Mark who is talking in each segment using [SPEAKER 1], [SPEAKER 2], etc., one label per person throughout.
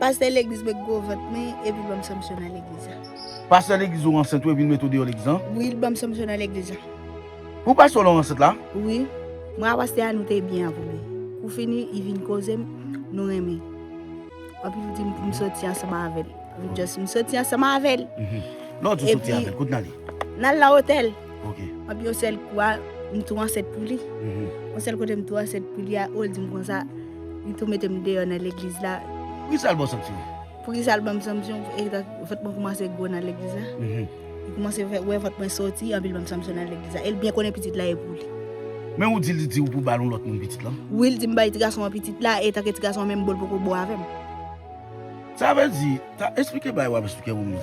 [SPEAKER 1] Pastè legliz mwen gwo vant mwen epi banm sanpsyon nan legliz la. Pastè legliz
[SPEAKER 2] ou ansent wi epi nou mete ou deyò legliz lan. Wi li banm sanpsyon
[SPEAKER 1] nan legliz la. Ou pastè
[SPEAKER 2] ou la ou ansent la? Wi. Mwen
[SPEAKER 1] a pastè a nou te byen a premye. Pou fini li vin kozem nou renmen anpil li dim poum soti ansanm avèl. Mwen just m soti ansanm avèl. Lè ou di ou soti
[SPEAKER 2] avèl kote nale? Nal nan otèl.
[SPEAKER 1] Mwen pi yon
[SPEAKER 2] sèl kou
[SPEAKER 1] a, m tou ansent pou li. Yon sèl kote m tou ansent pou li a, o l di m konsa, li tou mete m deyò nan legliz la. Poukisa l ba w sanksyon?
[SPEAKER 2] Poukisa l ba m
[SPEAKER 1] sanksyon? Vant mwen koumanse gwo nan legliz la. Li koumanse wè vant mwen soti, anpi l ba m sanksyon nan legliz la. E l byen konnen pitit la e pou li. Men ou di li
[SPEAKER 2] di ou pou w ba l yon lòt moun pitit lan? Wi, li di m bay ti gason an
[SPEAKER 1] pitit la, e tanke ti gason an menm bo l poko bo avè m.
[SPEAKER 2] Sa vle di, ta esplike bagay w ap esplike moun yo.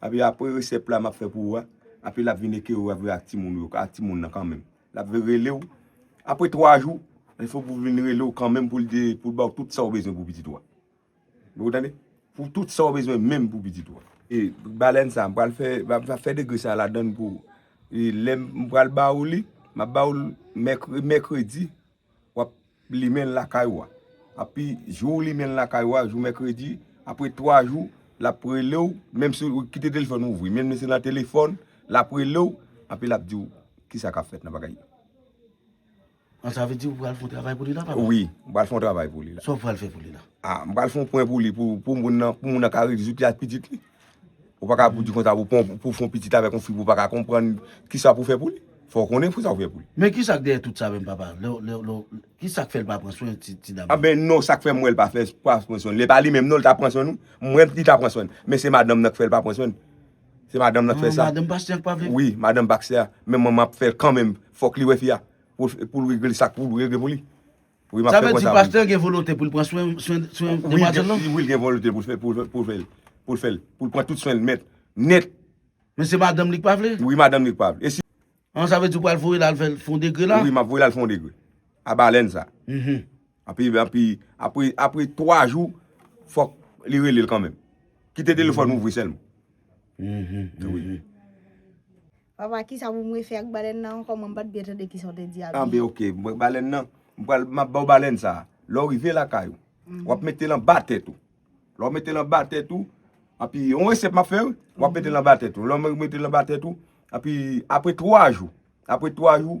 [SPEAKER 3] Api apre resèp la map fè pou ou a api lap vin eke ou ap jwe ak timoun ou yo ak timoun nan kanmenm lap vin rele ou apre 3 jou il fo pou vin rele ou kanmenm poul di poul baw tout sa ou bezwen pou pitit ou a ou tande pou tout sa ou bezwen menm pou pitit ou a. E balèn sa mpral fè map fè degre sa ladann pou ou e lèm mpral ba ou li map ba ou l mèkredi wap limenl lakay ou a api jou ou limenl lakay ou a jou mèkredi apre 3 jou lap relew menm si ou kite telefòn ou ouvri menm si se nan telefòn lap relew api lap diw kisa kap fèt nan bagay yo.
[SPEAKER 2] An sa vle di ou pral fon travay
[SPEAKER 3] pou li la papa?
[SPEAKER 2] Wi m pral fon travay pou
[SPEAKER 3] li la. Sa ou pral fè pou li la? Ah m pral fon pwen pou li pou moun nan ka rezoud li ak pitit li. Ou pa ka pou di konsa pou fon pitit avèk yon fi pou pa ka konprann ki sa pou fè pou li. Fò konnen ki sa pou fè pou li. Men ki sa k dèyè tout sa
[SPEAKER 2] menm papa? Ki sa k fè l pa pran swen ti dam nan? Anben non sa k fè m wè
[SPEAKER 3] l pa fè pa pran swen l. Li pa li menm non li ta pran swen l wi. M wè li ta pran swen l. Men se madanm nan k fè l pa pran swen l. Se madanm nan k fè sa. Madanm pastè an k pa vle. Wi
[SPEAKER 2] madanm pastè an.
[SPEAKER 3] Men manman ap fè l kanmenm. Fòk li wè fi a. Pou l regle sa k pou l regle pou li. Wi map fè konsa wi. Sa vle di pastè gen
[SPEAKER 2] volonte poul pran swen demwazèl lan? Wi li gen volonte poul fè
[SPEAKER 3] poul fèl poul fèl poul pran tout swenl mèt nèt. Men se madanm
[SPEAKER 2] li k pa vle? Wi madanm li k pa vle.
[SPEAKER 3] An sa vle di ou pral
[SPEAKER 2] voyel al fèl fon degre la? Wi map voyel al fon degre
[SPEAKER 3] a balèn sa. Anpi anpi apre apre 3 jou fòk li relel kanmenm. Kite telefòn ouvri sèlman. Wi.
[SPEAKER 1] Papa kisa pou mwen fè ak balèn nan ankò mwen pat byen tande kisa ou te di a byen. Anben ok mwen balèn
[SPEAKER 3] nan m pral map baw balèn sa lè ou rive lakay ou wap metel anba tèt ou lè ou metel anba tèt ou epi yon resèt map fè wi wap metel anba tèt ou lè ou metel anba tèt ou epi aprè 3 jou aprè 3 jou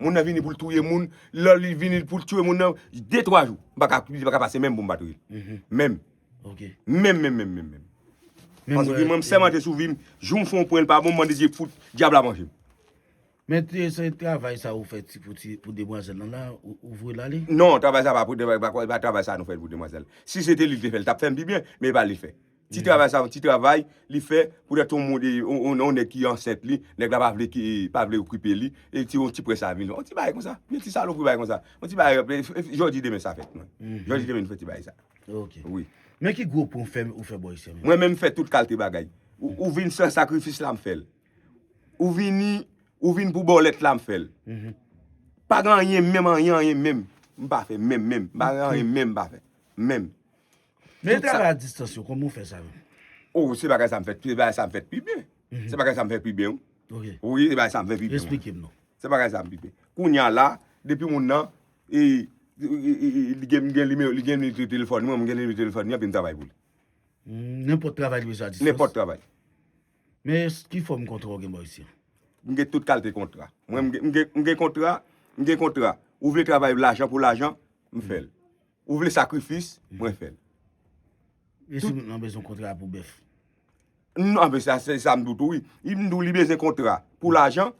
[SPEAKER 3] Moun nan vini poul touye moun, lò li vini poul tue moun nan, de twa jou, m paka, li paka pase menm pou m pa touye l. Menm. Ok.
[SPEAKER 2] Menm menm menm menm menm.
[SPEAKER 3] Paske mwen m sèmante sou vi m, jou m fon pwen l pa bon, m mande Dye fout dyab la manje m. Men te
[SPEAKER 2] se travay sa ou fè ti pou ti pou demwazèl lan la, ou voye l ale? Non, travay sa pa pou, e
[SPEAKER 3] pa travay sa nou fè l pou demwazèl. Si se te li l te fè l, l t ap fè m pi byen, men e pa li l fè. Ti travay sa yon ti travay li fè poutèt yon moun yon nèg ki ansent li, nèg la pa vle ki pa vle okipe li e ti yon ti près a vini. Yon ti bagay konsa, yon ti salopri bagay konsa. Yon ti bagay jodi demen sa fèt mwen. Jodi demen nou fè ti bagay sa. Ok. Wi.
[SPEAKER 2] Men ki
[SPEAKER 3] gwo pwen
[SPEAKER 2] fèm ou fè bò ici an menm? Mwen menm fè tout kalte
[SPEAKER 3] bagay. Ou vin san sakrifis la m fè l. Ou vini ou vin pou bòlèt la m fè l. Pa gen anyen menm anyen anyen menm m pa fè menm menm. Pa gen anyen menm m pa fè. Menm. Men
[SPEAKER 2] travay a distans yo kòman ou fè sa menm? Oh se bagay
[SPEAKER 3] sa m fè se bagay sa m fè pi byen se bagay sa m fè pi byen wi wi se bagay
[SPEAKER 2] sa m fè pi
[SPEAKER 3] byen esplike m non se bagay sa
[SPEAKER 2] m pi byen
[SPEAKER 3] kounya la depi moun nan e li gen m gen nimewo li gen nimewo telefòn mwen m gen nimewo telefòn li anpi m travay pou li nenpòt
[SPEAKER 2] travay li bezwen a distans nenpòt travay
[SPEAKER 3] men
[SPEAKER 2] ki fòm kontra ou gen bò ayisyen m gen tout kalte
[SPEAKER 3] kontra mwen m gen kontra m gen kontra ou vle travay lajan pou lajan m fè l Ou vle sakrifis, mwen fè l.
[SPEAKER 2] E
[SPEAKER 3] si moun
[SPEAKER 2] nan
[SPEAKER 3] bezwen kontra pou bèf? Non, men
[SPEAKER 2] sa se sa
[SPEAKER 3] m di w tou wi. Si m
[SPEAKER 2] di w li
[SPEAKER 3] bezwen kontra pou lajan,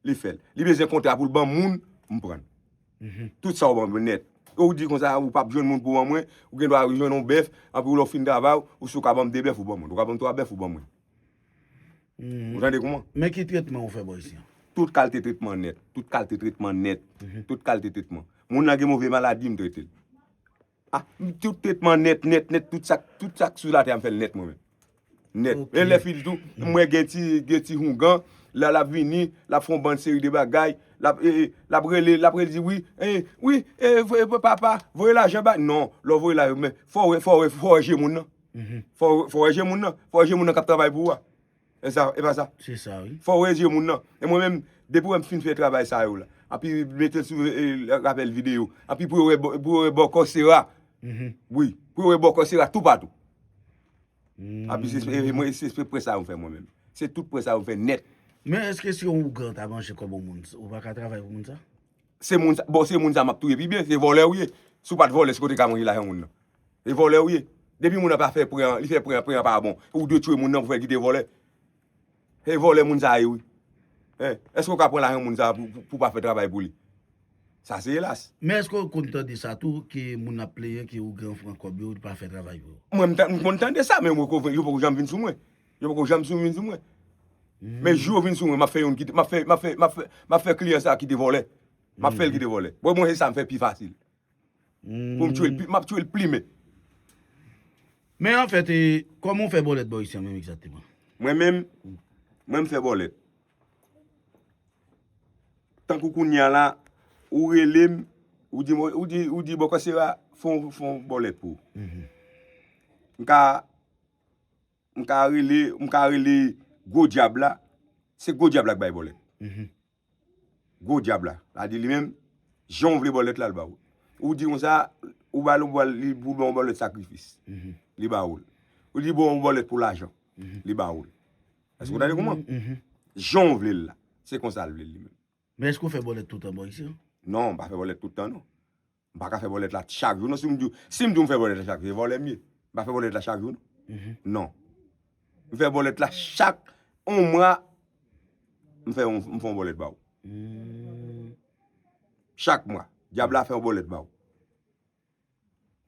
[SPEAKER 3] li fè l. Li bezwen kontra pou l ban moun, m pran l. Tout sa w ban mwen nèt. Ou di kon sa ou pap jwenn moun pou ban mwen, ou gen dwa jwenn yon bèf, anpi lè w fin travay, ou si w ka ban m de bèf, ou ban mwen. Ou ka ban m twa bèf, ou ban mwen. Ou tande kouman? Men ki tretman ou fè bò
[SPEAKER 2] isi an? Tout kalte tretman
[SPEAKER 3] nèt. Tout kalte tretman nèt. Tout kalte tretman. Moun lan gen move maladi, m trete l. A, m tout tretman nèt, nèt, nèt, tout sa k sou latè a m fè l nèt mwen menm. Nèt. E lè fini tou, m wè gen ti, gen ti houngan, la l ap vini, l ap fè yon bann seri de bagay, l ap, e, e, l ap rele, l ap rele di wi, e, wi, e, e, papa, voye lajan ba, non, lè w voye lajan, men, fò w wè, fò w wè, fò w wè je moun nan. Fòw wè je moun nan, fòw wè je moun nan kap travay pou ou a. Esa, e pa sa? Se sa wi. Fòw wè
[SPEAKER 2] je moun nan. E
[SPEAKER 3] mwen menm, depi wèm fin fè travay sa yo la, anpi metel sou rapèl video, anpi pou yo wè pou yo wè bòkò sera. Wi, pou yo wè bòkò sera tou patou. Anpi se espre mwen se espre pwè sa yo fè mwen menm. Se tout pwè sa yo fè nèt. Men eske si yon
[SPEAKER 2] ougan ta manje kòb yon moun, ou pa ka travay pou moun sa? Se moun sa,
[SPEAKER 3] bon se moun sa map touye pi byen, se vòlè ou ye. Si w pat vòlè, si w te ka manje lajan moun nan. E vòlè ou ye. Depi moun nan pa fè pran, li fè pran, pran pa bon. Ou dwe tchwe moun nan pou fè kite vòlè. E vòlè moun sa ye wi. Hein. Eske ou ka pran lajan moun sa pou pa fè travay pou li. Sa se elas. Men eske ou konn tande
[SPEAKER 2] sa tou ke moun ap plenyen ke ou gen ou pran kòb yo ou pa fè travay pou yo. Mwen m konn tande
[SPEAKER 3] sa men yo poko janm vin sou mwen. Yo poko janm sou vin sou mwen. Men jou yo vin sou mwen map fè yon kite map fè map fè map fè map fè kliyan sa kite vòlè. Map fèl kite vòlè. Bon mwen se sa m fè pi fasil. Pou m tchwel pi, map tchwel plimen.
[SPEAKER 2] Men an fèt e, kòman w fè bòlèt bò isi an menm egzakteman? Mwen menm,
[SPEAKER 3] mwen m fè bòlèt. Tankou kounye a la, ou rele m, ou di m, ou di, ou di bòkò sera fè yon, fè yon bòlèt pou ou. M ka, m ka rele, m ka rele gwo dyab la, se gwo dyab la k bay bòlèt. Gwo dyab la. La di li menm, jan w vle bòlèt la, l ba ou. Ou di konsa, ou ba l yon bòlèt, li pou w ba w yon bòlèt sakrifis. Li ba ou l. Ou di bon yon bòlèt pou lajan. Li ba ou l. Èske w tande kouman? Jan w vle l la. Se konsa l vle l li menm. Men èske w fè bòlèt
[SPEAKER 2] toutan bò isit? Non, m pa fè bòlèt
[SPEAKER 3] toutan non. M pa ka fè bòlèt la chak jou non. Si m di w, si m di w m fè bòlèt la chak jou, se vòlè m ye. M pa fè bòlèt la chak jou non. M fè bòlèt la chak yon mwa, m fè yon, m fè yon bòlèt ba w. Chak mwa, dyab la fè yon bòlèt ba w.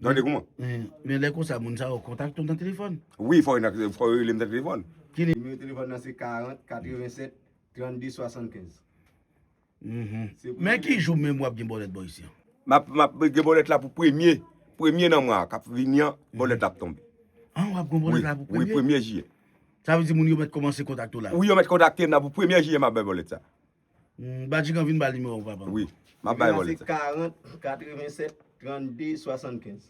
[SPEAKER 3] Tande kouman? Men lè konsa
[SPEAKER 2] moun sa yo kontakte w nan telefòn? Wi, fò yo
[SPEAKER 3] rele m nan telefòn. Ki nimewo telefòn
[SPEAKER 2] nan se 40
[SPEAKER 4] 87 32 75.
[SPEAKER 2] Men ki jou menm wap gen bòlèt bò isi an? Map gen
[SPEAKER 3] bòlèt la pou premye, premye nan mwa kap vini an, bòlèt la ap tonbe. An wap gen bòlèt
[SPEAKER 2] la pou premye? Wi, premye jiyè. Sa
[SPEAKER 3] vle di moun yo mèt
[SPEAKER 2] kòmanse kontakte w la? Wi, yo mèt kontakte m la pou
[SPEAKER 3] premye jiyè map bay bòlèt sa. Badjigan
[SPEAKER 2] vin ba nimewo w papa. Wi,
[SPEAKER 4] map
[SPEAKER 3] bay bòlèt
[SPEAKER 2] sa.
[SPEAKER 4] Nimewo
[SPEAKER 3] a
[SPEAKER 2] se 40 87 32 75.